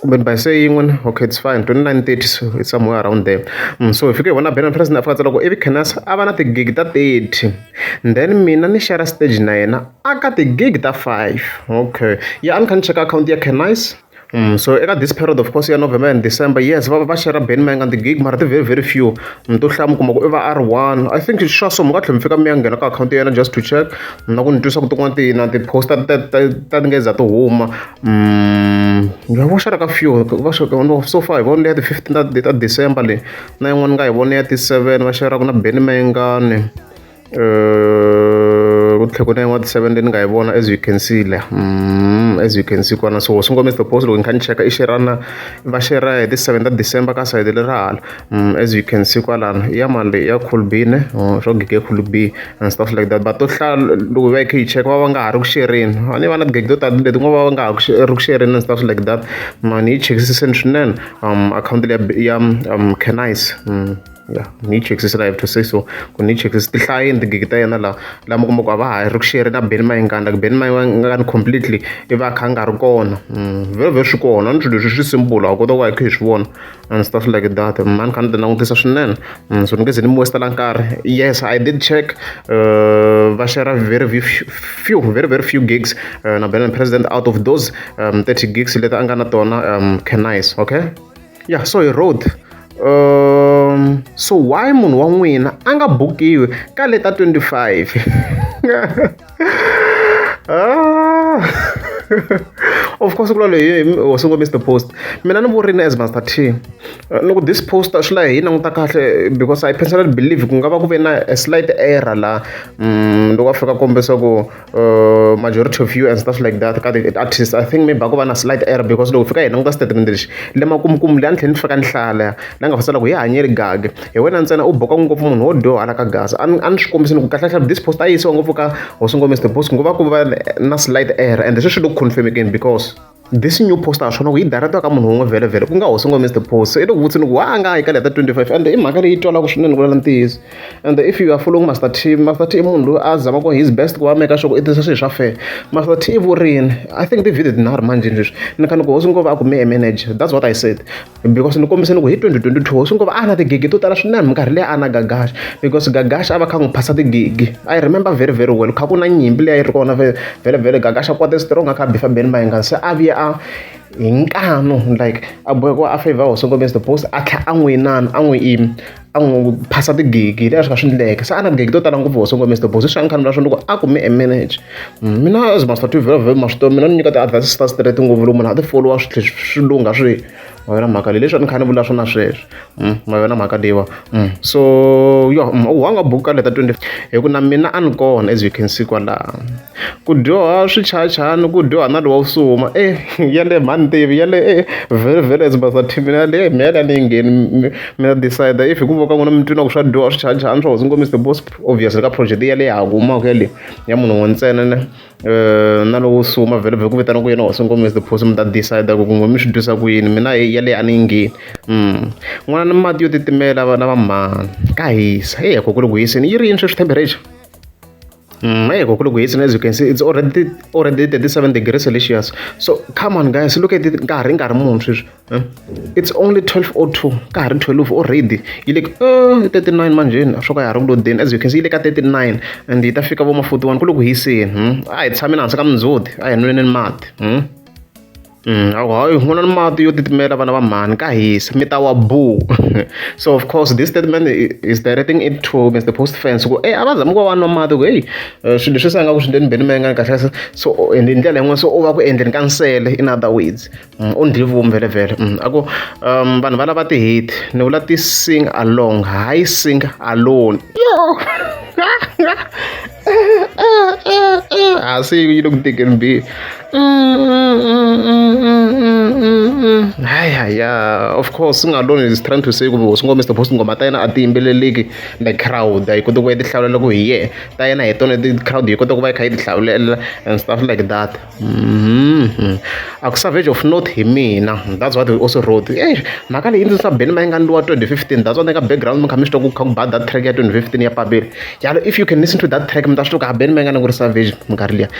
kumbe ni bayise yin'we na okay it's fine twenty nine thirty so it's somewhere around there so hi fike hi vona Benham Price ni afika tsala ku ivi Khenas a va na tigigi ta thirty then mina ni share stage na yena a ka tigigi ta five okay ya a ni kha ni cheka akhawunti ya Khenas Mm, so eka this period of course ya november and december yes va va share ben mayanga the gig mara ti very very few mm, to hlaya mi kuma ku i va r one i think swa so mi nga tlhela mi fika mi ya nghena ka akhawunti ya yena just to check na ku ni twisa ku tin'wana ti na ti-poster ta ti nga za ti huma Mm, va va xereka few va xereka no so far hi vone ya ti-fifteen ta ta december leyi na yin'wana ni nga hi vone ya ti-seven va xeraka na beni mayengani um ku tlhela ku na yin'wana ti-seven leyi ni nga yi vona as you can see la mm, as you can see kwana so swi ngomisa the post loko ni kha ni cheka i xerana va xera hi ti-seven ta december ka sayiti lera hala Mm, as you can see kwalano ya mani leyi ya cool b ne oh, swo gige cool b and stuff like that but to hlaya loko va yi khe yi cheka va va nga ha ri ku xerini a ni va na tigege to tala leti ku va va nga ha ri ku xerini and stuff like that mani yi chekisiseni swinene um akhawunti leyi ya um canice mm, ya ni yi chekisisa la have to say so ku ni yi chekisisa tihlayini tigigi ta yena laha lama kumbe ku a va ha ri ku xeri na beni mayingani like beni mayingani completely i va a kha a nga ri kona mm, very very swi kona ni swilo leswi swi simple a kota ku va yi kha yi swi vona a ndzi ta swi like that mani kha ni ti langutisa swinene mm, so ni nge ze ni mi westela nkarhi yes i did check uh, va share very few very very few gigs uh, na benin president out of those um, 30 gigs leti a nga na tona um, canice okay yeah so he wrote um, so why munhu wa n'wina a nga bukiwi ka leta 25 ah. of course kula leyi ho sungula mr post mina ni vurini as master t eh, loko this post swi la hi languta kahle because i personally believe ku nga va ku ve na a slight error la mm, loko a fika kombisa ku eh, majority of you and stuff like that ka artist i think maybe a ku va na slight error because loko fika hi languta statement lexi le makumukumu leyi a ni tlhela ni fika ni hlaya leya la nga fasela ku hi hanyeli gage hi wena ntsena u boka ngopfu munhu wo dyohala ka gaza a ni a ni swi kombisi ni ku kahlekahle this post a yi yisiwa ngopfu ka hosi ngomisi the post nguva ku va na slide error and sweswi lo confirmekeni because this new post a swona ku yi direct ka munhu wun'we vhele vhele ku nga hosi ngomisi the post so i loko vutsi ni ku wa a nga hayi ka leta 25 and i mhaka leyi twalaka swinene ku lala ntiyiso and if you are following master t master t i munhu loyi a zama ku his best ku va meka sure ku i tisa swilo swa fair master t i vurini i think ti-video tinharhu manjheni sweswi ni kha ni ku hosi ngova a ku me a manager that's what i said because ni kombise ni ku hi 2022 swi ngo va a na tigigi to tala swinene minkarhi leyi a na gagash because gagash a va kha n'wi phasa tigigi i remember very very well kha ku na nyimpi leyi a yi ri kona vele vele gagash a kwate strong a kha bifa beni mayengani se a vuye a hi nkanu like a boheko a favor hosi ngombe the post a tlha a n'wi inana a n'wi imi a n'wi ku phasa tigigi leswi nga swi endleka se a na tigigi to tala ngopfu hoso ngo mr boss swi nga khani ra swona loko a kume a manage mm, mina as master tv vhela vhela maswi mina ni nyika ti-advice swi ta straight ngopfu loko munhu a ti followa swi tlhe swi lungha swi ma yona mhaka leyi leswi a ni khani vula swona sweswi mm, ma yona mhaka leyiwa mm. so yo u hanga buku ka leta 20 hi ku na mina a ni kona as you can see kwalaha Ku dyoha swichayachayani ku dyoha na lowa u suma e yaleyo mhani ni tivi yale e vhele vhele as basa team mina yale e mehe yale a ni yi ngheni mi mina decide if hi ku vona ka n'wina mi twi na ku swa dyoha swichayachayani swa hosi nkomiso the most obvious ka project yaleyo ya ha ku humaka yaleyo ya munhu un'we ntsena ne na lowo suma vhele vhele ku vitana ku yena hosi nkomiso the possum mi ta decide ku n'wina mi swi twisa ku yini mina heyi yaleyo a ni yi ngheni n'wana ni mati yo titimela vana va mhani ka hisa heyi a ko kwale ku hiseni yi ri yini sweswi temperature. Mm, hey, kokulu guys, as you can see, it's already already 37 degrees Celsius. So come on, guys, look at it. Nkarhi nkarhi munhu sweswi. eh? It's only 12:02. Nkarhi 12 already. Yi le ka uh, 39 manje. Swo ka ya ha ri ku lodeni. As you can see, yi le ka 39 and yi ta fika vo ma 41 ku le ku hiseni. Hmm? A hi tshameni hansi ka mindzhuti. A hi nweleni mati. Hmm? hi ku nwa na mati yo titimela vana va mhani ka hisa mi ta wa boo so of course this statement is directing it to Mister Post fans ku e a va zami ku va va nwa mati ku heyi eh, swilo leswi se nga ku swi ndleni beni menga kahle kahle so hi ndlela yin'wana so u va ku endleni ka nsele in other words mm, u ndli vumi vele vele mm, a ku um vanhu va lava ti-hit ni vula ti-sing along hayi sing alone yo I see you look thick and big. hayi hayi of course swi nga loni is trying to say ku swi ngo mr boss ngoma ta yena a ti yimbeleleki the crowd a yi koti ku va yi tihlawulela ku hi yena ta yena hi tona ti crowd yi kota ku va yi kha yi tihlawulela and stuff like that mm-hmm. a ku savage of not hi mina that's what we also wrote e mhaka leyi ndzi sa beni ma yi nga ndliwa 2015 that's what ka background mi kha mi swi twa ku kha ku ba that track ya 2015 ya pabeli yalo if you can listen to that track mi ta swi twa ku ha beni ma yi nga ni ku ri savage minkarhi liya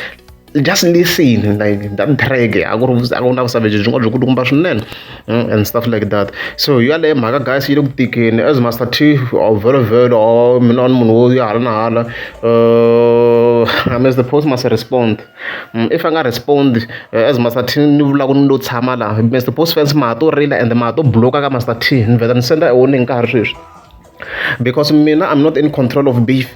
just listen like that track a ku ri a ku na ku savage byi nga byi kulukumba swinene mm, and stuff like that so yaleyo mhaka guys yi le ku tikeni as master t or velo velo or mina ni munhu wo ya hala na hala uh, i mean the post must respond mm, if i nga respond uh, as master t ni vulaka ni lo tshama laha mr post fans ma ha to rila and ma ha to bloka ka master t ni vheta ni senda e warning ka ha ri sweswi because mina i'm not in control of beef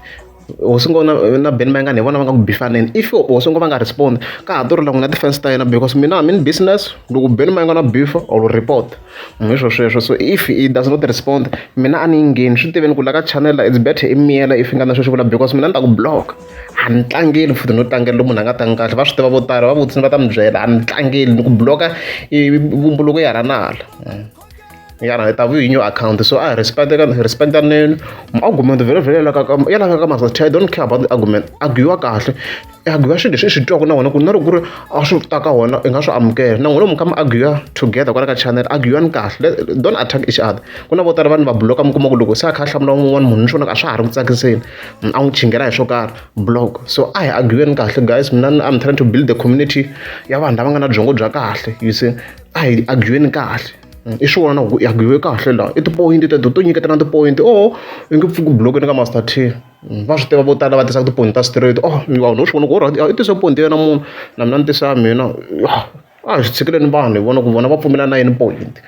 hosi ngo na na ben mayengani hi vona va nga ku bifaneni if hosi ngo va nga respond ka ha torila n'wina defense ta yena because mina i'm in business loko ben mayengana beef or report hi swo sweswo so if he does not respond mina a ni yi ngheni swi tiveni ku la ka channel it's better i miyela if nga na sweswi vula because mina ni ta ku block a ni tlangeli futhi no tlangela lomu munhu a nga tangi kahle va swi tiva vo tala va vutisa va ta mi byela a ni tlangeli ni ku block-a vumbuluko ya rhanala yala hi ta vu hi new account so i respect ka respect ka nene argument vele vele la ka ya la ka masa i don't care about the argument arguiwa kahle arguiwa swilo leswi swi twaka na wena ku na loko ku ri a swi ta ka wona i nga swi amukela na n'wina mi ka mi arguiwa together kwala ka channel arguiwani kahle don't attack each other ku na vo tala vanhu va bloka mi kuma ku loko se a kha a hlamula un'wana munhu ni swona a swa ha ri ku tsakiseni a n'wi chingela hi swo karhi block so a hi arguiweni kahle guys mina i'm trying to build the community ya vanhu lava nga na byongo bya kahle you see a hi argueni kahle i swi vona ku i arguiwe kahle laha i tipoyinti teto to nyiketana tipoyinti oho i nge pfuki bulokweni ka master t va swi tiva vo tala va tisaka tipoyinti ta straight oh vanhu u swi vona ku orati i tise poyinti ya yena munhu na mina ni tisa mina a hi swi tshikeleni vanhu hi vona ku vona va pfumela na yini poyinti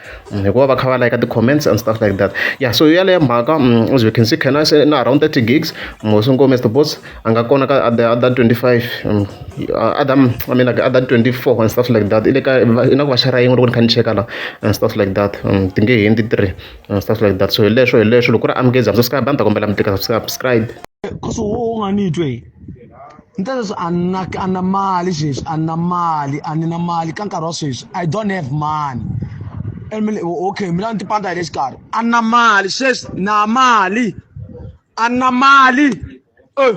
hikuva va kha va layika ti-comments and stuff like that ya so yaleyo mhaka as we can see can i say na around thirty gigs mosi ngome is the boss a nga kona ka other other 25 other I mean like other 24 and stuff like that i le ka i na ku va xera yin'we loko ni kha ni cheka la and stuff like that ti nge hindzi three and stuff like that so hi leswo hi leswo loko ku ri amukezi subscribe a ni ta kombela mi tika subscribe cause wo u nga ni twe ni ta leswi a na a na mali sweswi a na mali a ni na mali ka nkarhi wa sweswi i don't have money okay mina ni tipanda hi le xikarhi a na mali sweswi na mali anna mali Eh.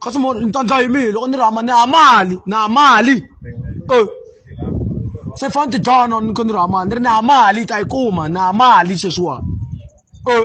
kasi mo ni ta ndla hi mihi loko ni ri hama ni ha mali ni ha mali Eh. se fane ti dlana ni ko ni ri hama ni ri ni ha mali ta yi kuma ni ha mali sweswiwani Eh.